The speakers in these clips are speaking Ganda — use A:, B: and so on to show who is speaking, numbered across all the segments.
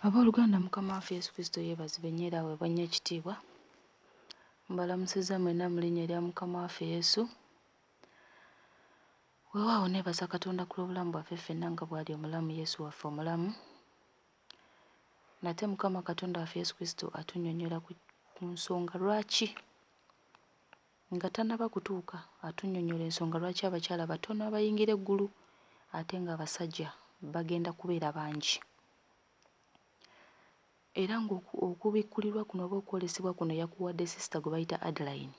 A: Abooluganda Mukama waffe Yesu Kristo yeebazibwe nnyo era aweebwe nnyo ekitiibwa. Mbalamusizza mwenna mu linnya erya Mukama waffe Yesu. Weewaawo neebaza Katonda ku lw'obulamu bwaffe ffenna nga bw'ali omulamu Yesu waffe omulamu. Nate Mukama Katonda waffe Yesu Kristo atunnyonnyola ku nsonga lwaki Nga tannaba kutuuka, atunnyonnyola ensonga lwaki abakyala batono abayingira eggulu ate ng'abasajja bagenda kubeera bangi. Era ng'okubikkulirwa kuno oba okwolesebwa kuno yakuwadde sisita gwe bayita Adeline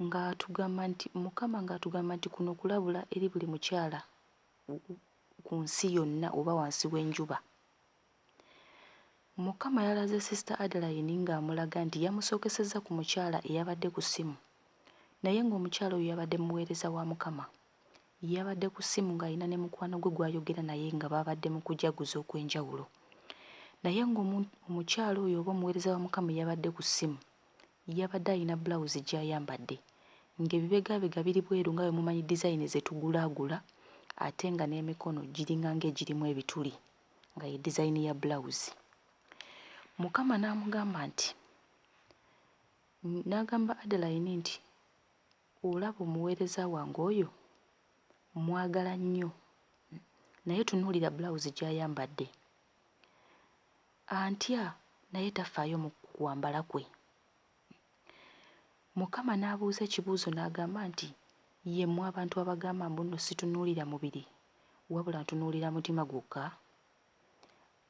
A: ng'atugamba nti, Mukama ng'atugamba nti kuno kulabula eri buli mukyala ku nsi yonna oba wansi w'enjuba. Mukama yalaze Sister Adeline ng'amulaga nti yamusookesezza ku mukyala eyabadde ku ssimu naye ng'omukyala oyo yabadde muweereza wa Mukama. Yabadde ku ssimu ng'alina ne mukwano gwe gw'ayogera naye nga baabadde mu kujaguza okw'enjawulo. Naye ng'omukyala oyo oba omuweereza wa Mukama eyabadde ku ssimu yabadde alina bbulawuzi gy'ayambadde ng'ebibegaabega biri bweru nga bwe mumanyi dizayini ze tugulaagula ate nga n'emikono giringa ng'egirimu ebituli. nga ye dizayini ya bulawuzi mukama n'amugamba nti n'agamba Adeline nti olaba omuweereza wange oyo mmwagala nnyo naye tunuulira bulawuzi gy'ayambadde antya naye tafaayo mu kwambala kwe Mukama n'abuuza ekibuuzo n'agamba nti, Ye mmwe abantu abagamba mbu nno situnuulira mubiri, wabula ntunuulira mutima gwokka?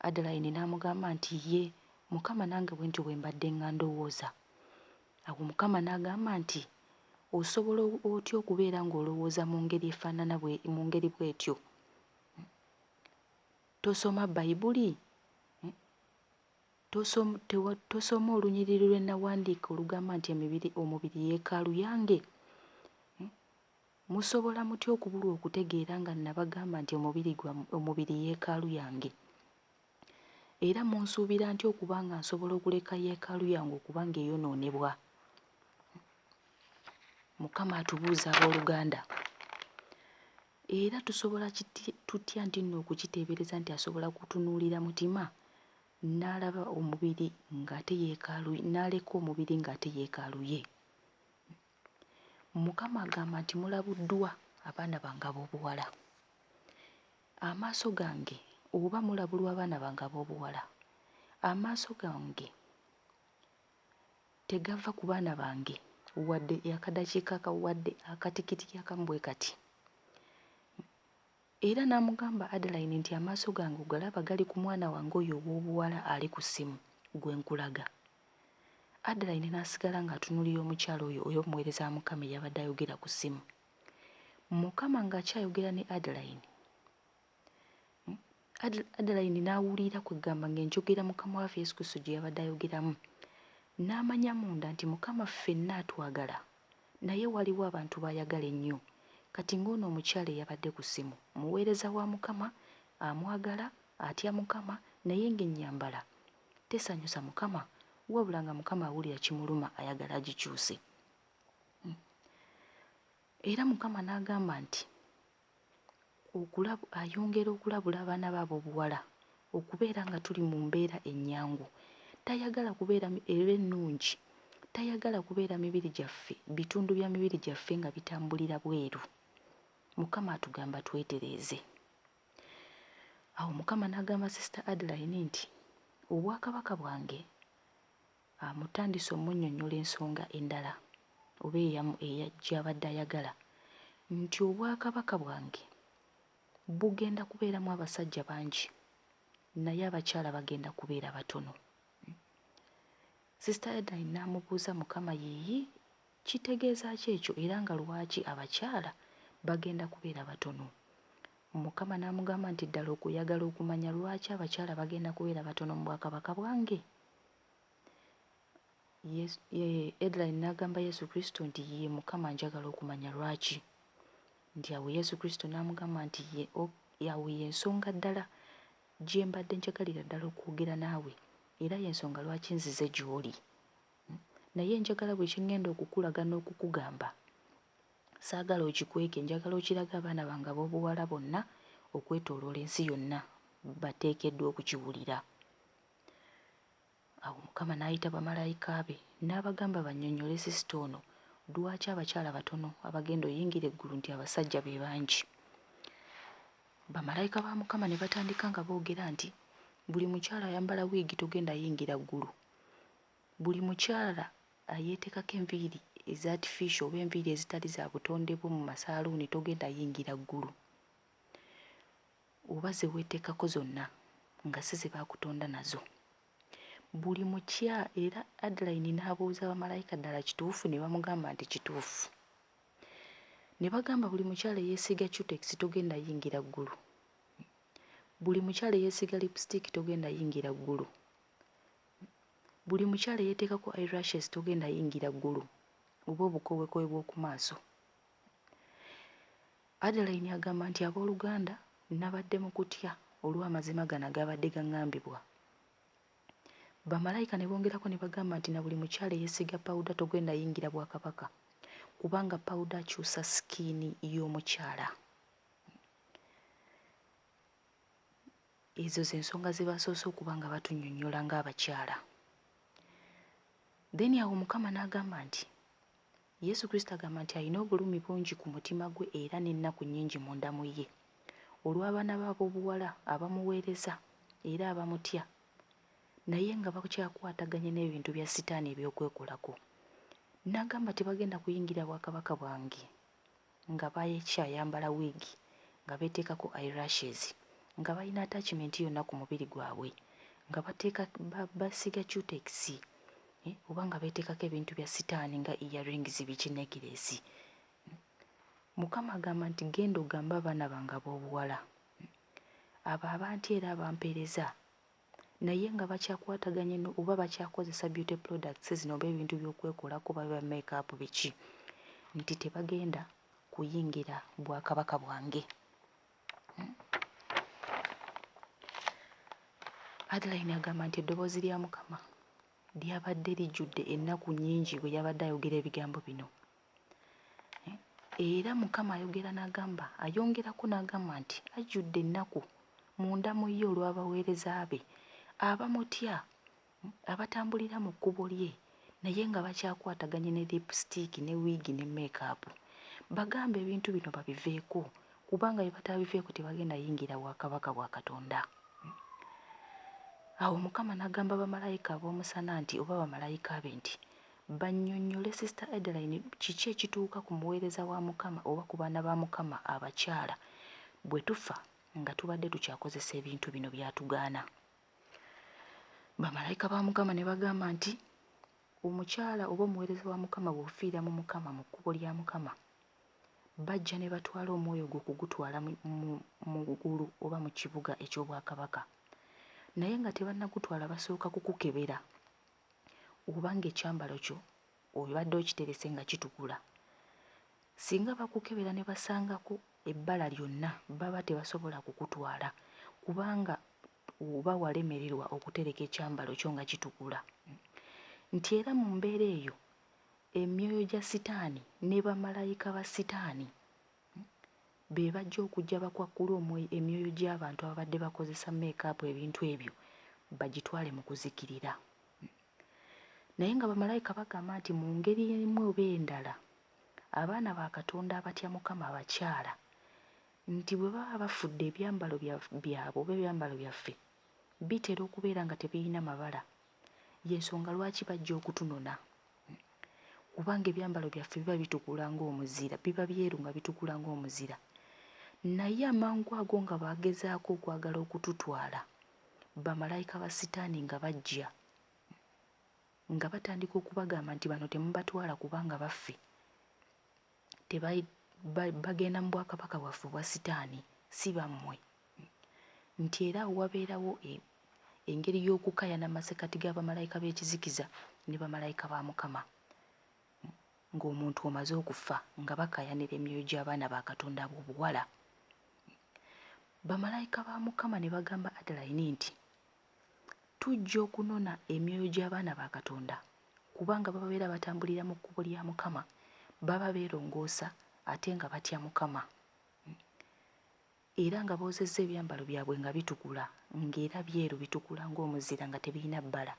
A: Adalayini n'amugamba nti, Yee, Mukama, nange bwe ntyo bwe mbadde nga ndowooza. Awo Mukama n'agamba nti, Osobola otya okubeera ng'olowooza mu ngeri efaanana bwe, mu ngeri bw'etyo? Tosoma Bayibuli? Tosoma olunyiriri lwe nnawandiika olugamba nti Omubiri Yeekaalu Yange? Musobola mutya okubulwa okutegeera nga nnabagamba nti Omubiri Yeekaalu Yange? Era munsuubira ntya okuba nga nsobola okuleka Yeekaalu Yange okuba nga eyonoonebwa? Mukama atubuuza, abooluganda. Era tusobola tutya nti nno okukiteebereza nti asobola kutunuulira mutima n'alaba omubiri ng'ate yeekaalu, n'aleka omubiri ng'ate yeekaalu ye? Mukama agamba nti, Mulabuddwa, abaana bange ab'obuwala. Amaaso gange, oba mulabulwa abaana bange ab'obuwala, amaaso gange. tegava ku baana bange wadde akadakiika akamu wadde akatikitiki akamu bwe kati. Era n'amugamba Adeline nti amaaso gange ogalaba gali ku mwana wange oyo ow'obuwala ali ku ssimu gwe nkulaga. Adeline n'asigala ng'atunuulira omukyala oyo oyo omuweereza wa Mukama eyabadde ayogera ku ssimu. Mukama ng'akyayogera ne Adeline. Adeline n'awulira kwe kugamba ng'enjogera Mukama waffe Yesu Kristo gye yabadde ayogeramu, n'amanya munda nti Mukama ffenna atwagala naye waliwo abantu b'ayagala ennyo. Kati ng'ono omukyala eyabadde ku ssimu, muweereza wa Mukama, amwagala, atya Mukama, naye ng'ennyambala tesanyusa Mukama, wabula nga Mukama awulira kimuluma ayagala agikyuse. Era Mukama n'agamba nti, okulabu ayongera okulabula abaana be ab'obuwala okubeera nga tuli mu mbeera ennyangu, tayagala kubeera era ennungi, tayagala kubeera mibiri gyaffe bitundu bya mibiri gyaffe nga bitambulira bweru. Mukama atugamba twetereeze. Awo Mukama n'agamba Sister Adeline nti, Obwakabaka bwange. Amutandise omunnyonnyola ensonga endala oba eyamu eya gy'abadde ayagala nti Obwakabaka bwange bugenda kubeeramu abasajja bangi naye abakyala bagenda kubeera batono. Sister Edline n'amubuuza Mukama yiiyi kitegeeza ki ekyo era nga lwaki abakyala bagenda kubeera batono? Mukama n'amugamba nti Ddala okuyagala okumanya lwaki abakyala bagenda kubeera batono mu Bwakabaka bwange? Yesu, ye, Edline n'agamba Yesu Kristo nti ye Mukama njagala okumanya lwaki. Nti awo Yesu Kristo n'amugamba nti ye, o, awo y'ensonga ddala gye mbadde njagalira ddala okwogera naawe era y'ensonga lwaki nzize gy'oli. Hmm? Naye njagala buli kye ŋŋenda okukulaga n'okukugamba, saagala okikweke, njagala okirage abaana bange ab'obuwala bonna okwetooloola ensi yonna bateekeddwa okukiwulira. Awo Mukama n'ayita bamalayika be n'abagamba bannyonnyole sisita ono lwaki abakyala batono abagenda oyingira eggulu nti abasajja be bangi. Bamalayika ba Mukama ne batandika nga boogera nti, Buli mukyala ayambala wiigi togenda yingira ggulu. Buli mukyala ayeetekako enviiri eza atifiisho oba enviiri ezitali za butonde bwo mu masaaluuni togenda yingira ggulu. oba ze weeteekako zonna nga si ze baakutonda nazo. Buli mukya era Adline n'abuuza bamalayika ddala kituufu ne bamugamba nti kituufu. Ne bagamba buli mukyala eyeesiiga cutex togenda yingira ggulu. Buli mukyala eyeesiiga lipstick togenda yingira ggulu. Buli mukyala eyeeteekako eye lashes togenda yingira ggulu oba obukooweekoowe bw'oku maaso. Adeline agamba nti ab'oluganda nabadde mu kutya olw'amazima gano agaabadde gangambibwa. Bamalayika ne bongerako ne bagamba nti na buli mukyala eyesiiga pawuda togenda yingira Bwakabaka kubanga pawuda akyusa sikiini y'omukyala. Ezo ze nsonga ze basoose okuba nga batunyonyola ng'abakyala. Then awo Mukama n'agamba nti Yesu Kristo agamba nti alina obulumi bungi ku mutima gwe era n'ennaku nnyingi munda mu ye olw'abaana be ab'obuwala abamuweereza era abamutya naye nga bakyakwataganye n'ebintu bya Sitaani eby'okwekolako. N'agamba nti, Bagenda kuyingira bwakabaka bwange. nga bakyayambala wiigi, nga beeteekako eye lashes, nga balina attachment yonna ku mubiri gwabwe, nga bateeka ba basiiga cutekisi eh oba nga beeteekako ebintu bya sitaani nga ear rings biki nekireesi mm Mukama agamba nti genda ogambe abaana bange ab'obuwala mm abo abantya era abampeereza naye nga bakyakwataganye no oba bakyakozesa beauty products zino oba ebintu byokwekolako oba biba make up biki nti tebagenda kuyingira bwakabaka bwange Adeline agamba nti eddoboozi lya Mukama lyabadde lijjudde ennaku nnyingi bwe yabadde ayogera ebigambo bino. Era Mukama ayogera n'agamba, ayongerako n'agamba nti, Ajjudde ennaku munda mu ye olw'abaweereza be abamutya, abatambulira mu kkubo lye, naye nga bakyakwataganye ne liipusitiiki ne wiigi ne meekaapu. Bagambe ebintu bino babiveeko, kubanga bwe bataabiveeko tebagenda yingira bwakabaka bwa Katonda. Awo Mukama n'agamba bamalayika ab'omusana nti, oba bamalayika be nti, Bannyonnyole Sister Adeline kiki ekituuka ku muweereza wa Mukama oba ku baana ba Mukama abakyala bwe tufa nga tubadde tukyakozesa ebintu bino by'atugaana. Bamalayika ba Mukama ne bagamba nti, Omukyala oba omuweereza wa Mukama bw'ofiira mu Mukama mu kkubo lya Mukama, bajja ne batwala omwoyo gwo okugutwala mu ggulu oba mu kibuga eky'obwakabaka. Naye nga tebannagutwala basooka kukukebera. oba ng'ekyambalo kyo obadde okiterese nga kitukula. Singa bakukebera ne basangako ebbala lyonna baba tebasobola kukutwala kubanga oba walemererwa okutereka ekyambalo kyo nga kitukula. Nti era mu mbeera eyo emyoyo gya sitaani ne bamalayika ba sitaani be bajja okujja bakwakkule omwoy emyoyo gy'abantu ababadde bakozesa meekaapu ebintu ebyo bagitwale mu kuzikirira. Naye nga bamalayika bagamba nti mu ngeri emu oba endala abaana ba Katonda abatya Mukama abakyala nti bwe baba bafudde ebyambalo bya byabwe oba ebyambalo byaffe bitera okubeera nga tebirina mabala y'ensonga lwaki bajja okutunona. kubanga ebyambalo byaffe biba bitukula ng'omuzira, biba byeru nga bitukula ng'omuzira. Naye amangwago nga bagezaako okwagala okututwala, bamalayika ba Sitaani nga bajja, nga batandika okubagamba nti, Bano temubatwala kubanga baffe. tebai ba bagenda mu bwakabaka bwaffe obwa sitaani si bammwe nti era awo wabeerawo e engeri y'okukayana masekati ga bamalayika b'ekizikiza ne bamalayika ba Mukama ng'omuntu omaze okufa nga bakayanira emyoyo gy'abaana ba Katonda ab'obuwala. Bamalayika ba Mukama ne bagamba Adalayini nti, Tujja okunona emyoyo gy'abaana ba Katonda, kubanga bababeera batambulira mu kkubo lya Mukama, baba beerongoosa ate nga batya Mukama, era nga boozezza ebyambalo byabwe nga bitukula, nga era byeru bitukula ng'omuzira nga tebirina bbala.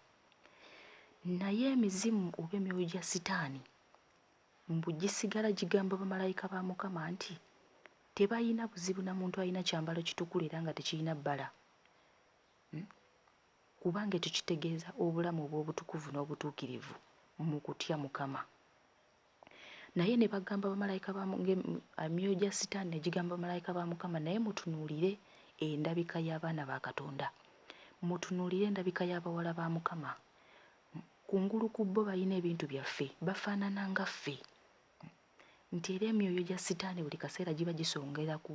A: Naye emizimu oba emyoyo gya Sitaani, mbu gisigala gigamba bamalayika ba Mukama nti, Tebalina buzibu na muntu alina kyambalo kitukula era nga tekirina bbala. Kubanga ekyo kitegeeza obulamu obw'obutukuvu n'obutuukirivu mu kutya Mukama. Naye ne bagamba bamalayika ba emyoyo gya Sitaani ne gigamba bamalayika ba Mukama, naye mutunuulire endabika y'abaana ba Katonda, mutunuulire endabika y'abawala ba Mukama. Kungulu ku bo balina ebintu byaffe, bafaanana nga ffe. nti era emyoyo gya sitaane buli kaseera giba gisongera ku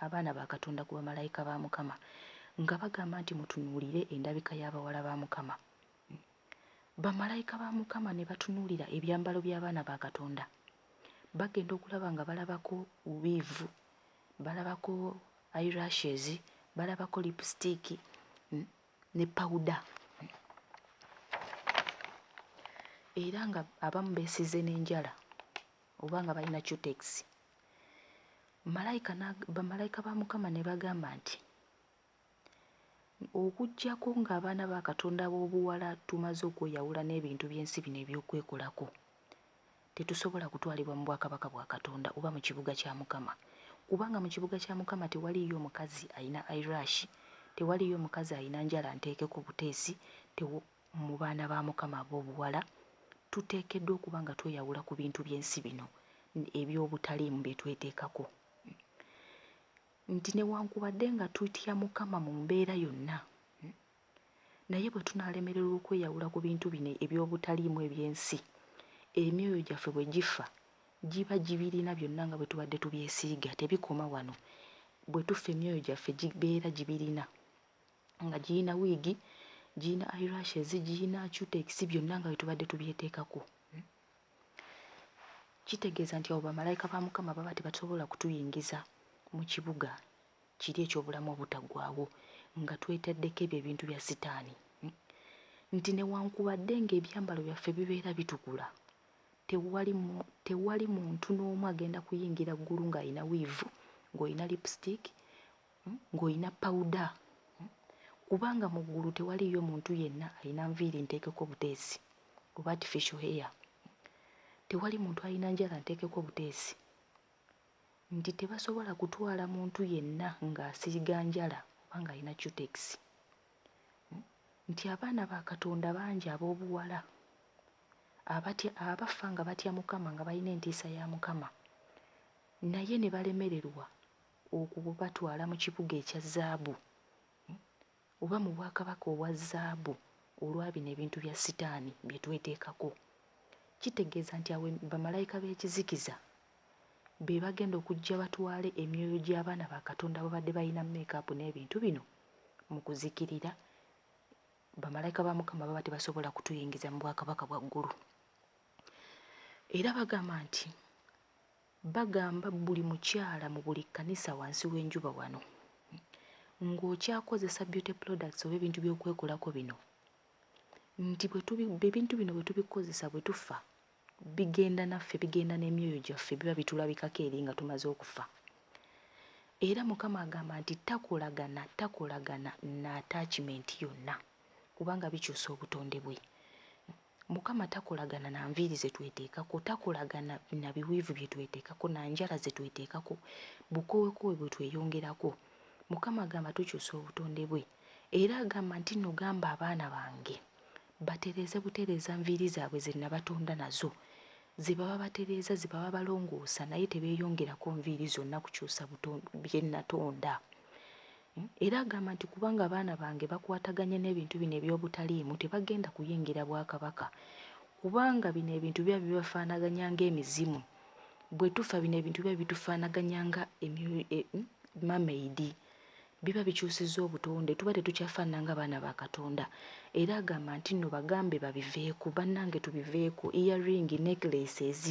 A: abaana ba Katonda ku bamalayika ba Mukama nga bagamba nti mutunuulire endabika y'abawala ba Mukama. Bamalayika ba Mukama ne batunuulira ebyambalo by'abaana ba Katonda bagenda okulaba nga balabako wiivu, balabako eyelashes, balabako lipusitiiki, ne pawuda era nga abamu beesiize n'enjala oba nga balina cutekisi malayika bamalayika ba mukama ne bagamba nti okuggyako ng'abaana ba katonda b'obuwala tumaze okweyawula n'ebintu by'ensi bino ebyokwekolako Tetusobola kutwalibwa mu bwakabaka bwa Katonda oba mu kibuga kya Mukama, kubanga mu kibuga kya Mukama tewaliiyo mukazi alina eyelash, tewaliiyo mukazi alina njala nteeke ku buteesi, tew. Mu baana ba Mukama ab'obuwala, tuteekeddwa okuba nga tweyawula ku bintu by'ensi bino eby'obutaliimu bye tweteekako, nti newankubadde nga tutya Mukama mu mbeera yonna, Naye bwe tunaalemererwa okweyawula ku bintu bino eby'obutaliimu eby'ensi, emyoyo gyaffe bwe gifa, giba gibirina byonna nga bwe tubadde tubyesiiga. Tebikoma wano. Bwe tufa emyoyo gyaffe gibeera gibirina, nga girina wiigi, girina eyelashes, girina cutekisi, byonna nga bwe tubadde tubyeteekako. Kitegeeza nti awo bamalayika ba Mukama baba tebasobola kutuyingiza mu kibuga kiri eky'obulamu obutaggwaawo nga twetaddeko ebyo ebintu bya Sitaani, nti newankubadde ng'ebyambalo byaffe bibeera bitukula, tewali, tewali muntu n'omu agenda kuyingira ggulu ng'alina wiivu, ng'olina lipusitiiki, ng'olina pawuda, kubanga mu ggulu tewaliiyo muntu yenna alina nviiri nteekeko buteesi oba artificial hair, tewali muntu alina njala nteekeko buteesi. nti tebasobola kutwala muntu yenna ng'asiiga njala oba ng'alina cutekisi, nti abaana ba Katonda bangi ab'obuwala abatya abafa nga batya Mukama nga balina entiisa ya Mukama, naye ne balemererwa okubatwala mu kibuga ekya zaabu. Oba mu bwakabaka obwa zaabu olwa bino ebintu bya Sitaani bye tweteekako. Kitegeeza nti awo bamalayika b'ekizikiza be bagenda okujja batwale emyoyo gy'abaana ba Katonda ababadde balina meekaapu n'ebintu bino mu kuzikirira. Bamalayika ba Mukama baba tebasobola kutuyingiza mu bwakabaka bwa ggulu. Era bagamba nti Bagamba buli mukyala mu buli kkanisa wansi w'enjuba wano, ng'okyakozesa beauty products oba ebintu by'okwekolako bino, nti bwe tubi, ebintu bino bwe tubikozesa bwe tufa, bigenda naffe, bigenda n'emyoyo gyaffe, biba bitulabikako eri nga tumaze okufa. Era Mukama agamba nti takolagana, takolagana na attachment yonna, kubanga bikyusa obutonde bwe. Mukama takolagana na nviiri ze tweteekako, takolagana na biweevu bye tweteekako, na njala ze tweteekako, bukoowekoowe bwe tweyongerako. Mukama agamba tukyusa obutonde bwe. Era agamba nti nno gamba abaana bange batereeze butereeza nviiri zaabwe ze nabatonda nazo, ze baba batereeza, ze baba balongoosa, naye tebeeyongerako nviiri zonna kukyusa bye natonda. Era agamba nti kubanga abaana bange bakwataganye n'ebintu bino eby'obutaliimu tebagenda kuyingira bwakabaka kubanga bino ebintu biba bibafaanaganya nga emizimu, bwe tufa bino ebintu biba bitufaanaganya nga mermaid, biba bikyusizza obutonde tuba tetukyafaanana nga baana ba Katonda era agamba nti nno bagambe babiveeko bannange tubiveeko ear ring, necklaces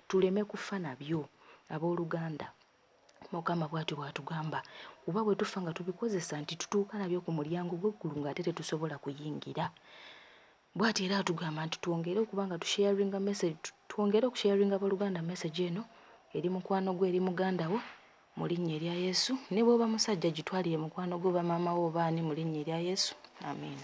A: tuleme kufa nabyo abooluganda. Mukama bwatyo bwatugamba kuba bwe tufa nga tubikozesa nti tutuuka nabyo ku mulyango gw'eggulu ng'ate tetusobola kuyingira. Bwatyo era atugamba nti twongere okuba nga tusharinga message, twongere okusharinga abooluganda message eno eri mukwano gwo, eri muganda wo mu linnya erya Yesu. Ne bw'oba musajja gitwalire mukwano gwo oba maama wo oba ani mu linnya erya Yesu. Amiina.